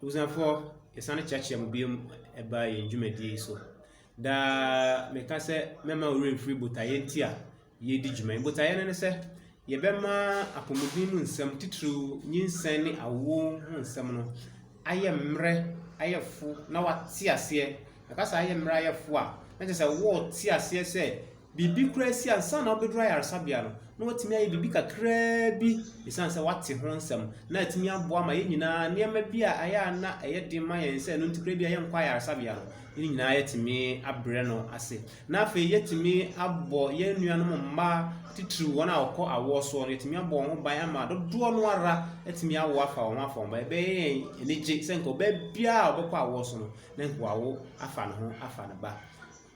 Abusuafoɔ, yɛsane kyeakyea mo bio ɛba yɛn dwumadie yi so. Daa meka sɛ mɛma wo werɛ mfiri botaeɛ nti a yɛredi dwuma yi. Botaeɛ no ne sɛ yɛbɛma apɔmuden mu nsɛm titiriw nyinsɛn ne awoɔ ho nsɛm no ayɛ mmerɛ, ayɛ fo na wate aseɛ. Ɛba saa a, yɛ mmerɛ a yɛfo a, na kyerɛ sɛ wɔte aseɛ sɛ biribi koraa asi ansa na wobɛduru ayaresabea no, na watumi ayɛ biribi kakraa bi ɛsiane sɛ wate ho nsɛm, na atumi aboa ma yɛn nyinaa nneɛma bi a ayɛ a na ɛyɛ den ma yɛn sɛ ɛno nti koraa bi a yɛnkɔ ayaresabea no, yɛn nyinaa yɛatumi abrɛ no ase. Na afei yɛatumi abɔ yɛn nuanom mmaa titiriw wɔn a wɔkɔ awoɔ soɔ no, yɛatumi abɔ wɔn ho ban ama dodoɔ no ara atumi awo afa wɔn ho afa wɔn ba. Ɛbɛyɛ yɛn anigye sɛ nka ɔbaa biara a ɔbɛkɔ awoɔ so no, ne hoawo afa ne ho afa ne ba.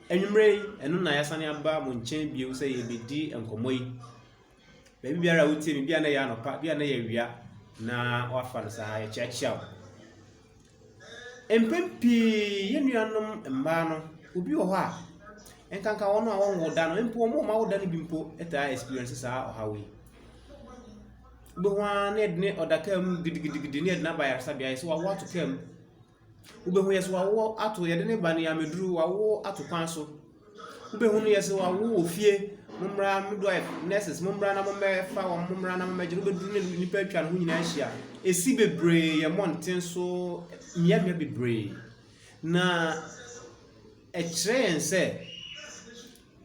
Anwummere yi, ɛno na yɛasane aba mo nkyɛn bio sɛ yɛrebɛdi nkɔmmɔ yi. Baabi biara a wotie me, bi a na ɛyɛ anɔpa, bi a na ɛyɛ awia, na wafa no saa, yɛkyeakyea wo. Mpɛn pii, yɛn nuanom mmaa no, obi wɔ hɔ a, nkanka wɔn a wɔnwo da no mpo wɔn mma woda no bi mpo taa experience saa ɔhaw yi bɛhu ara ne ɛdene ɔda kaa mu gidigidigidi ne ɛdene aba yaresabea yɛ sɛ wawo ato kaa mu Wobɛhu yɛ sɛ wawo ato yɛde ne ba ne ameduru wawo ato kwan so. Wobɛhu no yɛ sɛ wawo wɔ fie mommra midwife nurses mommra na mommɛfa wɔn mommra na mommɛgye no wobɛduru ne nnipa atwa ne ho nyinaa ahyia. Ɛsi bebree yɛ mmɔnten so mmeammea bebree na ɛkyerɛ yɛn sɛ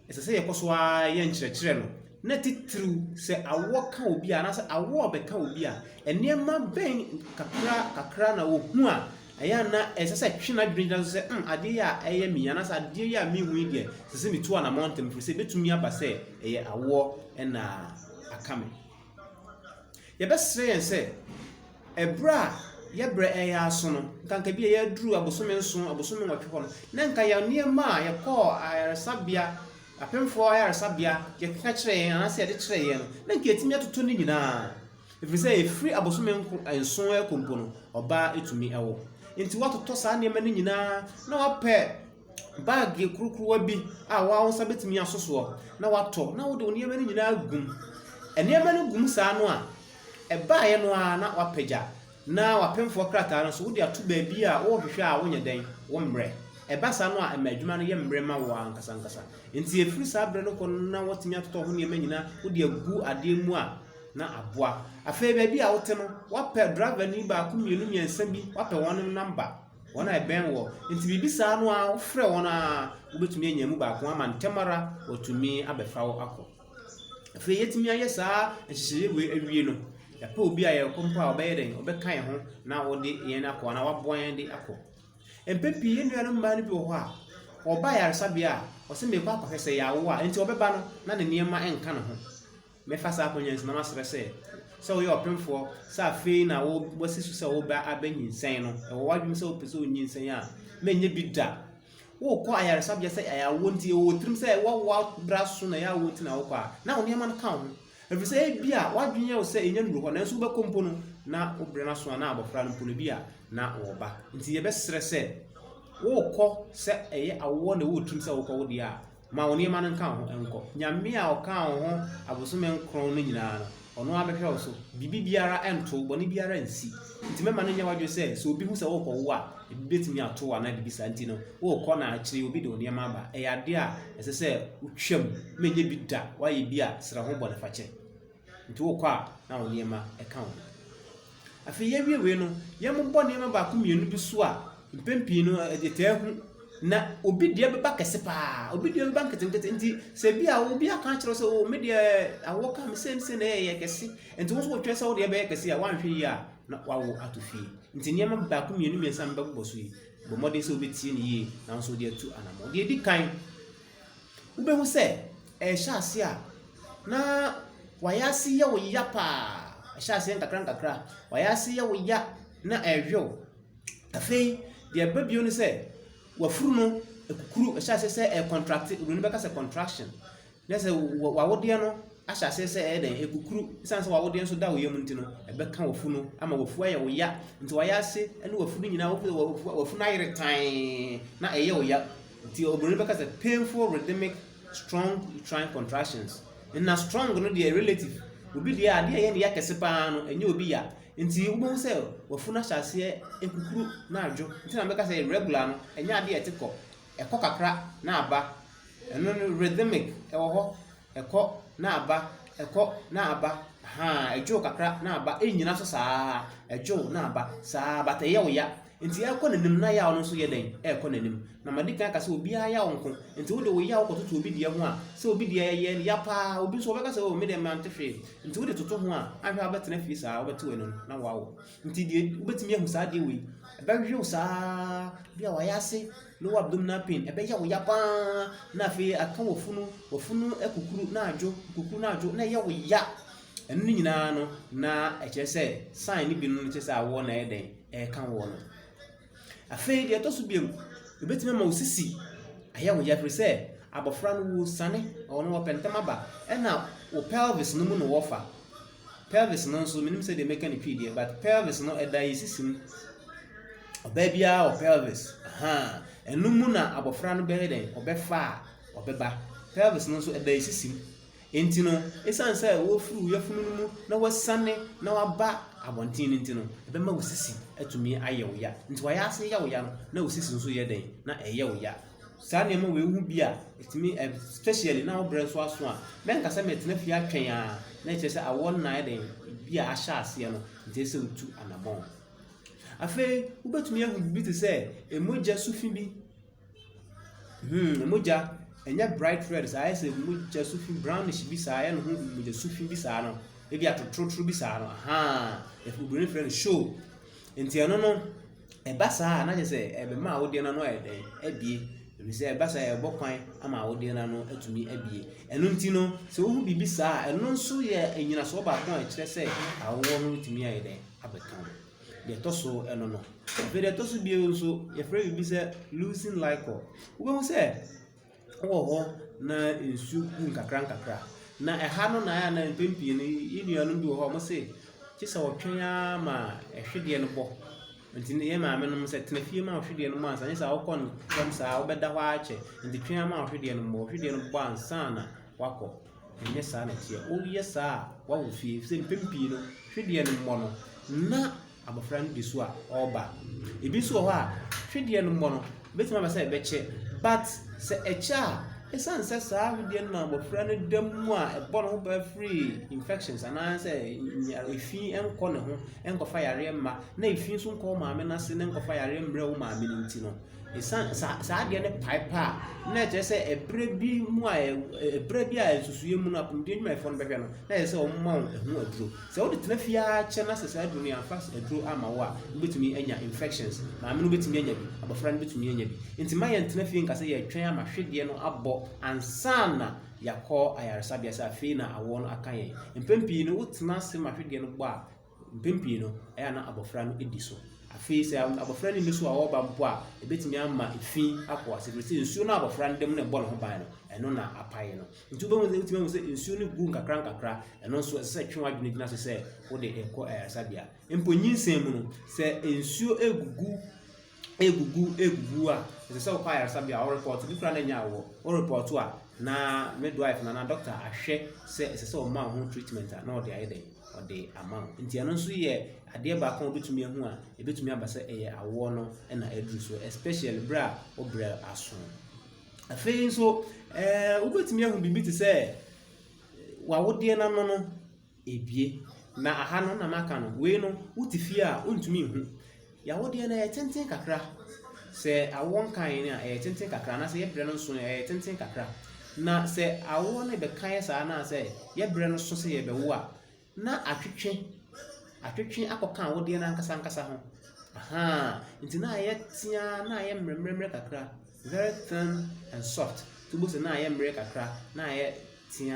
ɛsɛ sɛ yɛkɔ so ara yɛ nkyerɛkyerɛ no, na titiriw sɛ awɔ ka obi a anaasɛ awɔ rebɛka obi a, nneɛma bɛn kakra kakra na ohu a ɛyɛ a na ɛsɛ sɛ ɛtwe n'adwene gyina so sɛ, hmm, adeɛ yi a ɛyɛ me yi anaasɛ adeɛ yi a mehu yi deɛ, ɛsɛ sɛ metu anammɔn ntɛm, ɛfiri sɛ ɛbɛtumi aba sɛ ɛyɛ awoɔ na aka me. Yɛbɛsrɛ yɛn sɛ, ɛberɛ a yɛbrɛ ɛyɛ aso no, nkanka bi a yɛaduru abosome nson, abosome nwɔtwe hɔ no, na nka yɛn nneɛma a yɛkɔɔ ayaresabea, apemfoɔ ayaresabea, yɛkeka kyerɛ yɛn anaasɛ yɛde kyerɛ yɛn no, na nka yɛtumi atoto ne nyinaa. Ɛfiri sɛ ɛfiri abosome nko nson ɛkɔ mpo no, ɔbaa ɛtumi ɛwo. Nti woatotɔ saa nneɛma no nyinaa na wapɛ Bag yɛ kurukuruwa bi a wo ara wo nsa bɛtumi aso soɔ na woatɔ na wode wo nneɛma no nyinaa gu mu. Nneɛma no gu mu saa no a, ɛbaeɛ no ara na woapagya na w'apemfoɔ krataa no nso wode ato baabi a worehwehwɛ a wonyɛ dɛn, wommrɛ. Ɛba saa no a, ɛma adwuma no yɛ mmerɛ ma wo ara ankasa ankasa. Nti ɛfiri saa berɛ no kɔ no na woatumi atotɔ ho nneɛma nyinaa wode agu adeɛ mu a, na aboa. Afei baabi a wote no, woapɛ driverni baako, mmienu, mmiɛnsa bi, woapɛ wɔn namba. Wɔn a ɛbɛn wɔ. Nti biribi saa no a, wofrɛ wɔn a, wobɛtumi anya mu baako ama ntɛm ara wɔatumi abɛfa wo akɔ. Afei yɛtumi ayɛ saa nhyehyɛeɛ wei awie no, yɛpɛ obi a yɛkɔ mpo a ɔbɛyɛ dɛn, ɔbɛka yɛn ho na ɔde yɛn akɔ anaa waboa yɛn de akɔ. Mpɛ pii yɛn nuanom mmaa no bi wɔ hɔ a, ɔba yaresabea a, ɔsɛ mekɔ akɔhwɛ sɛ yɛawo a, nti ɔbɛba no na ne nneɛma nka ne ho. Mɛfa saa akwannya yi so na masrɛ sɛ, sɛ woyɛ ɔpemfoɔ, sɛ afei na wo, woasi so sɛ wo ba abɛnyinsɛn no, ɛwɔ w'adwenem sɛ wopɛ sɛ onyinsɛn a, mɛnyɛ bi da. Worekɔ ayaresabea sɛ ɛyɛ awoɔ nti, ɛwɔ wo tirim sɛ woawo abere aso na ɛyɛ awoɔ nti na wokɔ a, na wo nneɛma no ka wo ho. Ɛfiri sɛ ebia w'adwene yɛ wo sɛ ɛnya nnuru hɔ, nanso wobɛkɔ mpo no, na wo berɛ no aso a na abɔfra no mpo no ebia na ɔwɔ ba. Nti yɛbɛsrɛ sɛ, worekɔ sɛ ɛyɛ awoɔ na ɛwɔ wo tirim sɛ wokɔ wo deɛ a, Ma wo nneɛma no nka wo ho nkɔ. Nyame a ɔkaa wo ho abosome nkron no nyinaa no, ɔno ara bɛhwɛ wo so. Biribi biara nto, bɔne biara nsi. Nti mɛma no nyɛ w'adwene sɛ, sɛ obi hu sɛ worekɔwo a, ebi betumi ato wo anaa biribi saa nti no, worekɔ na akyiri obi de wo nneɛma aba. Ɛyɛ ade a ɛsɛ sɛ wotwam ma ɛnyɛ bi da. Woayɛ bi a, srɛ ho bɔnefakyɛ. Nti wokɔ a na wo nneɛma ka wo ho. Afei yɛawie wei no, yɛmmobɔ nneɛma baako mmienu bi so a mpɛn pii no yɛtaa hu na obi deɛ bɛba kɛse paa, obi deɛ bɛba nketenkete. Nti sɛ bi a obi aka akyerɛ sɛ o oh, me deɛ awoɔ ka me sɛ ne sɛ na ɛyɛ kɛse, nti wo nso wotwɛn sɛ wo deɛ bɛyɛ kɛse a woanhwɛ yie a na wawo ato fie. Nti nneɛma baako mmienu mmiɛnsa mbɛbobɔ so yi, bɔ mmɔden sɛ wobɛtie no yie na wo nso wode atu anammɔn. Deɛ ɛdi kan, Wobɛhu sɛ ɛrehyɛ aseɛ a, na wayɛ ase yɛ wo ya paa. Ɛhyɛ aseɛ nkakrankakra. Wayɛ ase yɛ wo ya na ɛrewe wo. Afei deɛ ɛba bio ne sɛ wafuru no akukuru. Ɛhyɛ aseɛ sɛ ɛrecontracte. Oburoni bɛka sɛ contraction. Na sɛ wo- w'awodeɛ no ahyɛ aseɛ sɛ ɛyɛ dɛn akukuru. Esiane sɛ w'awodeɛ nso da wo yam nti no, ɛbɛka w'afu no ama w'afu ayɛ wo ya. Nti wayɛ ase ne w'afu no nyinaa, w'afu w'afu no ayere tann na ɛyɛ wo ya. Nti obroni bɛka sɛ painful rhythmic strong uterine contractions. Na strong no deɛ relative. Obi deɛ adeɛ a ɛyɛ ne ya kɛse paa no ɛnyɛ obi ya. Nti wobɛhu sɛ wafunu ahyɛ aseɛ nkukuru na adwo. Nti na mɛka sɛ irregular no ɛnyɛ adeɛ a ɛte kɔ. Ɛkɔ kakra na aba. Ɛno no rhythmic ɛwɔ hɔ Ɛkɔ na aba, ɛkɔ na aba, ahaa, ɛdwo kakra na aba, ɛnnyina so saa ara, ɛdwo na aba, saa ara, but ɛyɛ wo ya. Nti ɛrekɔ n'anim na yaw no nso yɛ dɛn? Ɛrekɔ n'anim. Na madi kan aka sɛ obiara yaw nko. Nti wode wo yaw kɔtoto obi deɛ ho a, sɛ obi deɛ ɛyɛ ya paa, obi nso ɔbɛka sɛ, oh, me deɛ mante hwee. Nti wode toto ho a, anhwɛ a wobɛtena fie saa, wobɛte w'anom na woawo. Nti deɛ wobɛtumi ahu saa adeɛ wei, ɛbɛwe wo saa bi a wayɛ ase lower abdominal pain, ɛbɛyɛ wo ya pa ara na afei aka w'afunu, w'afunu akukuru na adwo, akukuru na adwo na ɛyɛ wo ya. Ɛno ne nyinaa no na ɛkyerɛ sɛ sign no bi no kyerɛ sɛ awoɔ na ɛyɛ dɛn, ɛreka woɔ no. Afei deɛ ɛtɔ so biom, ɛbɛtumi ama wo sisi ayɛ wo ya firi sɛ abɔfra no wusane, ɔno wɔpɛ ntɛm aba, ɛna wo pelvis no mu na wɔfa. Pelvis no nso menim sɛdeɛ mɛka ne twi deɛ but pelvis no ɛda yɛ sisi mu ɔbaa biara wɔ pelvis ahaa ɛno mu na abɔfra no bɛyɛ dɛn ɔbɛfa a ɔbɛba pelvis no nso ɛda yɛ sisi mu nti no ɛsiane sɛ wɔfiri wo yafunu no mu na wɔasiane na waba abɔnten no nti no ɛbɛma wo sisi atumi ayɛ wo ya nti wayɛ ase yɛ wo ya no na wo sisi nso yɛ dɛn na ɛyɛ wo ya saa nneɛma wei ho bi a ɛtumi especially na wo berɛ nso aso a mɛnka sɛ mɛtena fie atwɛn a na ɛkyerɛ sɛ awoɔ nna ayɛ den bi a ahyɛ aseɛ no nti sɛ wotu anammɔn afei wobɛtumi ahu biribi te sɛ mogya su fi bi hmm mogya ɛnyɛ bright red saa ayɛ sɛ mogya su fi brownish bi saa ayɛ no ho mogya su fi bi saa no ebi atotorotoro bi saa no ahaa ɛfɛ obìnrin frɛ no show nti ɛno no. Ɛba saa a, na kyerɛ sɛ ɛbɛma awodeɛ no ano ayɛ dɛn? Abue. Ɛfiri sɛ ɛba saa a, ɛbɔ kwan ama awodeɛ no ano atumi abue. Ɛno nti no, sɛ wohu biribi saa a, ɛno nso yɛ nnyinasoɔ baako a ɛkyerɛ sɛ awoɔ no tumi ayɛ dɛn? Abɛka ho. Deɛ ɛtɔ so ɛno no. Afei deɛ ɛtɔ so bio nso, yɛfrɛ biribi sɛ leucine liquor. Wobɛhu sɛ wɔ hɔ na nsu gu nkakra nkakra. Na ɛha no na ayɛ na mpɛn pii no yɛn nuanom bi wɔ hɔ a wɔse gye sɛ wɔtwɛn ara ma hwedeɛ no bɔ. Nti ne yɛn maamenom sɛ tena fie ma wo hwedeɛ no mmɔ ansa, anyɛ saa a wokɔ ntɛm saa a wobɛda hɔ ara kyɛ. Nti twɛn ara ma wo hwedeɛ no mmɔ. Wo hwedeɛ no bɔ ansa na woakɔ. Ɛnyɛ saa na ɛteɛ. Woyɛ saa a woawo fie ɛfiri sɛ mpɛn pii no hwedeɛ no mmɔ no na abɔfra no di so a ɔreba. Ebi nso wɔ hɔ a twedeɛ no mmɔ no ɛbɛtumi aba sɛ ɛbɛkyɛ but sɛ ɛkyɛ a ɛsiane sɛ saa twedeɛ no na abɔfra no da mu a ɛbɔ ne ho paa firi infections anaasɛ efi nkɔ ne ho nkɔfa yareɛ mma na efi nso nkɔ wo maame no ase na nkɔfa yareɛ mmerɛ wo maame no nti no ɛsiane saa saa adeɛ no pae paa na ɛkyerɛ sɛ ɛberɛ bi mu a ɛberɛ bi a nsusuiɛ mu no apɔmuden adwumayɛfoɔ no bɛhwɛ no na ɛyɛ sɛ wɔn ma wɔn ho aduro Sɛ wode tena fie ara kyɛ na sɛ saa aduru no yɛamfa aduru amma wo a, wobɛtumi anya infections. Maame no bɛtumi anya bi, abɔfra no bɛtumi anya bi. Nti ma yɛntena fie nka sɛ yɛretwɛn ama hwedeɛ no abɔ ansa na yɛakɔ ayaresabea sɛ afei na awoɔ no aka yɛn. Mpɛn pii no wotena ase ma hwedeɛ no bɔ a, mpɛn pii no ɛyɛ a na abɔfra no di so. Afei sɛ abɔfra no nni so a ɔreba mpo a, ɛbɛtumi ama efi akɔ ase ɛfiri sɛ nsuo no a abɔfra no da mu na ɛbɔ ne ho ban no, ɛno na apae no. Nti wobɛhu sɛ wotumi ahu sɛ nsuo no gu nkakra nkakra ɛno nso ɛsɛ sɛ twe w'adwene gyina so sɛ wode ɛkɔ ayaresabea mpo nyinsɛn mu no sɛ nsuo egugu egugu egugu a ɛsɛ sɛ wokɔ ayaresabea a ɔrepɔt bi kura na nya awɔ ɔrepɔt a na midwife na na doctor ahwɛ sɛ ɛsɛ sɛ ɔma ho treatment a na ɔde ayɛ dɛ ɔde ama wo nti ɛno nso yɛ adeɛ baako a wobɛtumi ahu a ɛbɛtumi aba sɛ ɛyɛ awoɔ no na aduru so especially berɛ a wobrɛ aso Afei nso, eh, wobɛtumi ahu biribi te sɛ w'awodeɛ no ano no ebie. Na aha no na maka no, wei no, wote fie a wontumi nhu. Yɛawodeɛ no ɛyɛ tenten kakra. Sɛ awoɔ nkan no a, ɛyɛ tenten kakra, anaasɛ yɛ berɛ no nso ɛyɛ tenten kakra. Na sɛ awoɔ no rebɛkan saa anaasɛ yɛ berɛ no so sɛ yɛbɛwo a, Na atwetwe atwetwe akɔka wo deɛ no ankasa ankasa ho. Ahaa, nti na ayɛ tea na ayɛ mmerɛmmerɛmmerɛ kakra, very thin and soft. Nti wobɛhu sɛ na ayɛ mmerɛ kakra, na ayɛ tea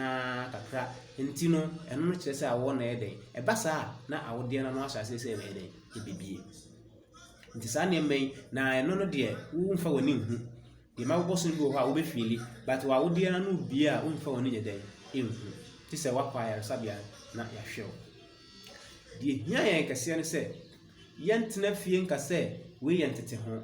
kakra. Nti no, ɛno no kyerɛ sɛ awoɔ no ayɛ dɛn? Ɛba saa a, na awodeɛ no ano ahyɛ aseɛ sɛ ɛbɛyɛ dɛn? Ɛbɛbue. Nti saa nneɛma yi, na ɛno no deɛ, womfa w'ani nhu. Deɛ mma bobɔ so no bi wɔ hɔ a wobɛ fiili but wɔ awodeɛ no ano bia a womfa w'ani nyɛ dɛn ɛnhu te sɛ wakɔ ayaresabea na yɛahwɛ wo deɛ hia yɛn kɛseɛ no sɛ yɛntena fie nka sɛ wei yɛ ntete ho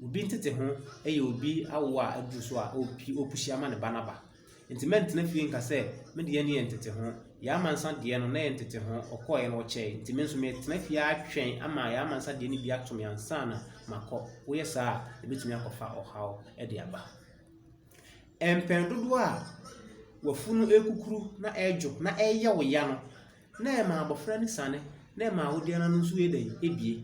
obi ntete ho ɛyɛ obi awo a aduru so a ɔpusi ama ne ba no aba Nti mɛntena fie nka sɛ me deɛ no yɛ nteteho. Yaa Amansa deɛ no, na ɛyɛ nteteho. Ɔkɔeɛ no, ɔkyɛe. Nti me nso metena fie ara twɛn ama Yaa Amansa deɛ no bi ato me ansa na makɔ. Woyɛ saa a, ɛbɛtumi akɔfa ɔhaw de aba. Mpɛn dodoɔ a w'afunu rekukuru na ɛredwo na ɛreyɛ wo ya no, na ɛma abɔfra no siane, na ɛma wo deɛ no ano nso yɛ dɛn? Ɛbue.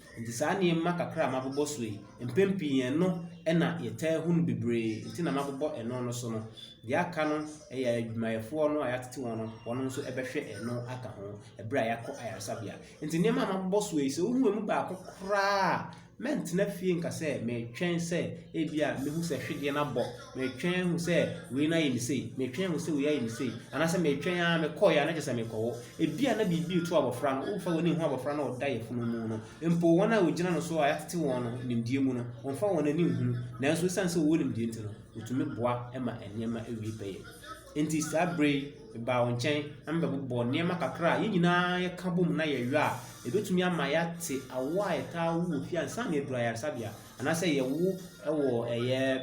Enti saa nneɛma kakra a mabobɔ so yi, mpɛn pii ɛno na yɛtaa hu no bebree, nti na mabobɔ ɛno no so no. Deɛ aka no, ɛyɛ adwumayɛfoɔ no a yɛatete wɔn no, wɔn nso bɛhwɛ ɛno aka ho ɛberɛ a yɛakɔ ayaresabea. Nti nneɛma a mabobɔ so yi, sɛ wohu ɛmu baako koraa a, mɛntena fie nka sɛ meretwɛn sɛ ebia mɛhu sɛ hwedeɛ no abɔ Metwɛn hu sɛ wei no ayɛ me sei, metwɛn hu sɛ wei ayɛ me sei, anaasɛ metwɛn ara mekɔeɛ a na kyerɛ sɛ mekɔwo. Ebi a na biribi reto abɔfra no, womfa w'ani nhu abɔfra no a ɔda yafunu mu no. Mpo wɔn a wɔgyina no so a yɛatete wɔn no nimdeɛ mu no, wɔmfa wɔn ani nhunu. Nanso esiane sɛ wɔwɔ nimdeɛ nti no, wɔtumi boa ma nneɛma wie pɛyɛ. Enti saa bere yi, mebaa wo nkyɛn na mebɛbobɔ nneɛma kakra a yɛn nyinaa yɛka bom na yɛyɔ a, ɛbɛtumi ama yɛate awo a ɛtaa wo wɔ fie ansa na yɛaduru ayaresabea. Anaasɛ yɛwo wɔ ɛyɛ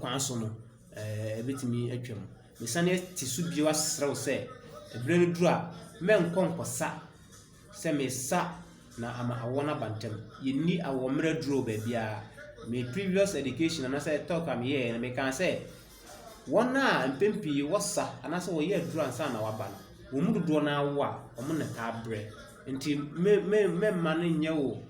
kwan so no, ɛbɛtumi atwam. Mesane te so bio asrɛ wo sɛ, berɛ no duru a, mɛnkɔ nkɔsa sɛ mesa na ama awoɔ no aba ntɛm. Yɛnni awoɔ mmerɛ aduro baabiara. Me previous education anaasɛ talk a meyɛɛ no, mekaa sɛ, wɔn a mpɛn pii wɔsa anaasɛ wɔyɛ aduro ansa na waba no, wɔn mu dodoɔ no ara wo a, wɔn na ɛtaa brɛ. Nti mɛmma no nyɛ wo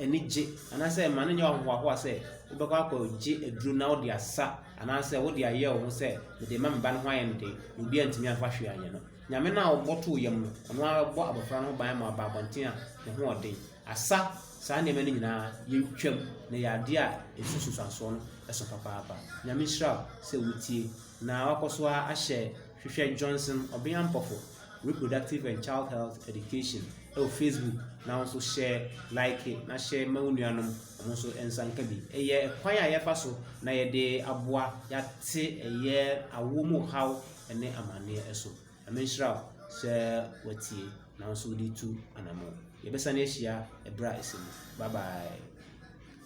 anigye anaasɛ mma no nyɛ wo ahohoahoa sɛ wobɛkɔ akɔgye aduro na wode asa anaasɛ wode ayɛ wo ho sɛ mede ma me ba no ho ayɛ no den na obi antumi amfa hwee anyɛ no nyame no a ɔbɔ too yam no ɔno ara bɔ abɔfra no ho ban ma ɔba abɔnten a ne ho ɔden asa saa nneɛma no nyinaa yɛntwam na yɛ adeɛ a ɛsu susuansoɔ no ɛso papaapa nyame nhyira sɛ wotie na wakɔ so ahyɛ Hwehwɛ Johnson Ɔbea Mpɔfo Reproductive and Child Health Education wɔ Facebook na wo nso hyɛ like na hyɛ ma wo nuanom wɔn nso nsa nka bi. Ɛyɛ kwan a yɛfa so na yɛde aboa yɛate ɛyɛ awo mu haw ne amanneɛ so. Ɛme nhyira wo sɛ watie na wo nso wode tu anamɔ. Yɛbɛsan ahyia ɛberɛ a ɛsɛ mu. Bye bye.